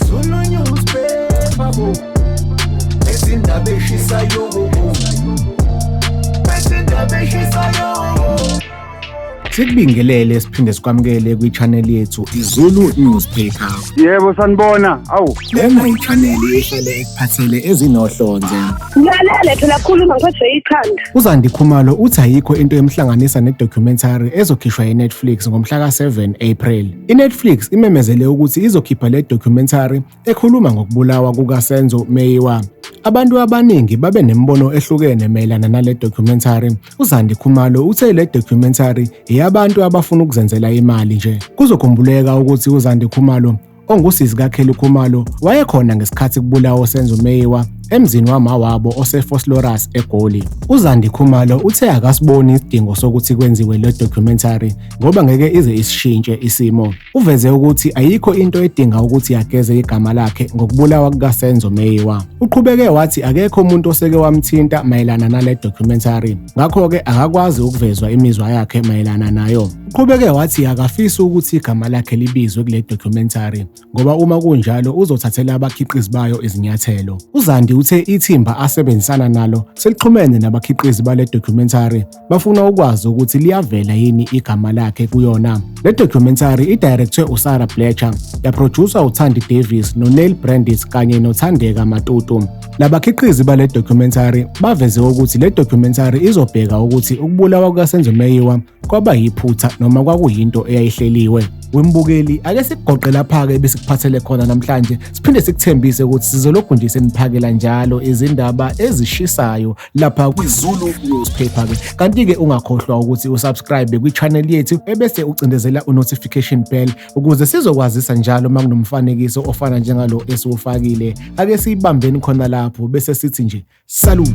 Zulu newspaper bo Ezindaba eshisayo bo Ezindaba eshisayo Sikubingelele siphinde sikwamukele kwi-channel yethu iZulu Newspaper. Yebo sanibona. Awu. Lena yichaneli ehlale ekuphathele ezinohlonze. Ngilalele phela khuluma ngiphathwe ikhanda. UZandi Khumalo uthi ayikho into emhlanganisa ne-documentary ezokhishwa yi-Netflix ngomhla ka-7 April. I-Netflix imemezele ukuthi izokhipha le documentary ekhuluma ngokubulawa kukaSenzo Meyiwa. Abantu abaningi babe nemibono ehlukene mayelana nale documentary. UZandi Khumalo uthe le documentary eyabantu abafuna ukuzenzela imali nje. Kuzokhumbuleka ukuthi uZandi Khumalo ongusisi kaKelly Khumalo wayekhona ngesikhathi kubulawa uSenzo Meyiwa emzini wamawabo oseFoslorus eGoli. UZandi Khumalo uthe akasiboni isidingo sokuthi kwenziwe le documentary ngoba ngeke ize isishintshe isimo. Uveze ukuthi ayikho into edinga ukuthi yageze igama lakhe ngokubulawa kukaSenzo Meyiwa. Uqhubeke wathi akekho umuntu oseke wamthinta mayelana nale documentary. Ngakho-ke akakwazi ukuvezwa imizwa yakhe mayelana nayo. Uqhubeke wathi akafisi ukuthi igama lakhe libizwe kule documentary ngoba uma kunjalo uzothathela abakhiqizi bayo izinyathelo. UZandi uthe ithimba asebenzisana nalo selixhumene nabakhiqizi bale documentary bafuna ukwazi ukuthi liyavela yini igama lakhe kuyona. Le documentary idirectwe uSarah Bletcher, yaproducer uThandi Davis noNeil Brandis kanye noThandeka Matutu. Labakhiqizi bale documentary baveze ukuthi le documentary izobheka ukuthi ukubulawa kukaSenzo Meyiwa kwaba yiphutha noma kwakuyinto eyayihleliwe wembukeli ake sikugoqe lapha-ke besikuphathele khona namhlanje siphinde sikuthembise ukuthi sizolokhu nje seniphakela njalo izindaba ezishisayo lapha kwizulu newspaper-ke kanti-ke ungakhohlwa ukuthi usubscribe kwi-channel yethu ebese ucindezela u-notification bell ukuze sizokwazisa njalo uma kunomfanekiso ofana njengalo esiwufakile ake siyibambeni khona lapho bese sithi nje salute